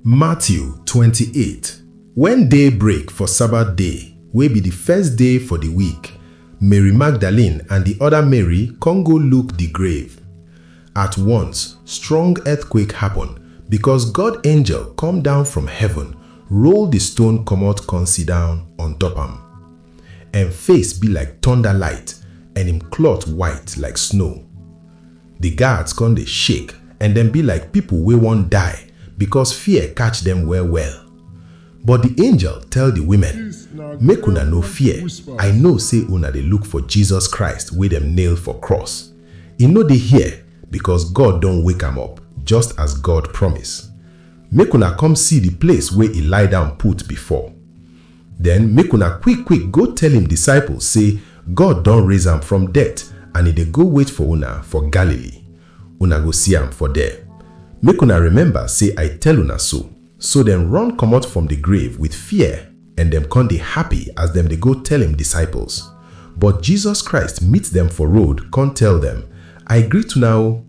Matthew twenty eight Wen day break for Sabbath day, wey be di first day for di week, Mary Magdalene and di oda Mary kon go look di grave. At once, strong earthquake happen, bikos God angel kom down from heaven, roll di stone komot kon sidown on top am. En face bi like tonda light, en im klot white like snow. Di guards kon dey shake and dem bi like pipol wey won die bikos fear katch dem well-well. But di angel tell di wimen, Make una no fear, I know sey una dey luk for Jesus Christ wey dem nail for krus. E no dey here, bikos God don wake am up, just as God promise. Make una kom si di place wey e lie down put before. Den make una kwik-kwik go tell im disciples sey God don raise am from deat and e dey go wait for una for Galilee. Una go si am for der. Make una remember sey I tell una so. So dem run komot from di grave with fear and dem kon dey happy as dem dey go tell im disciples. But Jesus Christ meet dem for road kon tell dem, I greet una o!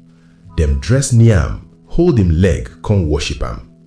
Dem dress near am, hold im leg kon worship am.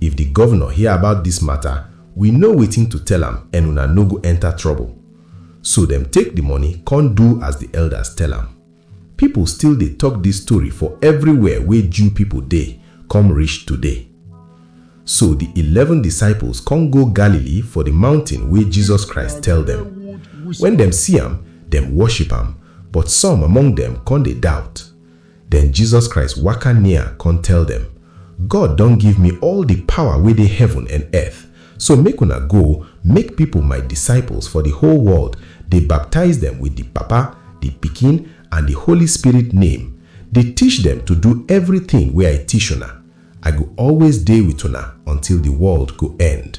If the governor hear about this matter, we know wetin to tell am and una no go enter trouble. So dem take the money con do as the elders tell am. People still dey talk this story for everywhere wey Jew people dey come reach today. So the eleven disciples con go Galilee for the mountain wey Jesus Christ tell dem. When dem see am, dem worship am, but some among dem con dey doubt. Den Jesus Christ waka near kon tell dem, God don give mi all di pawa wey dey heaven and earth, so make una go, make pipol my disciples for di whole world, dey baptize dem with di Papa, di Pikin, and di Holy Spirit name, dey tish dem to do evritin wey I tish una. I go always dey with una until di world go end.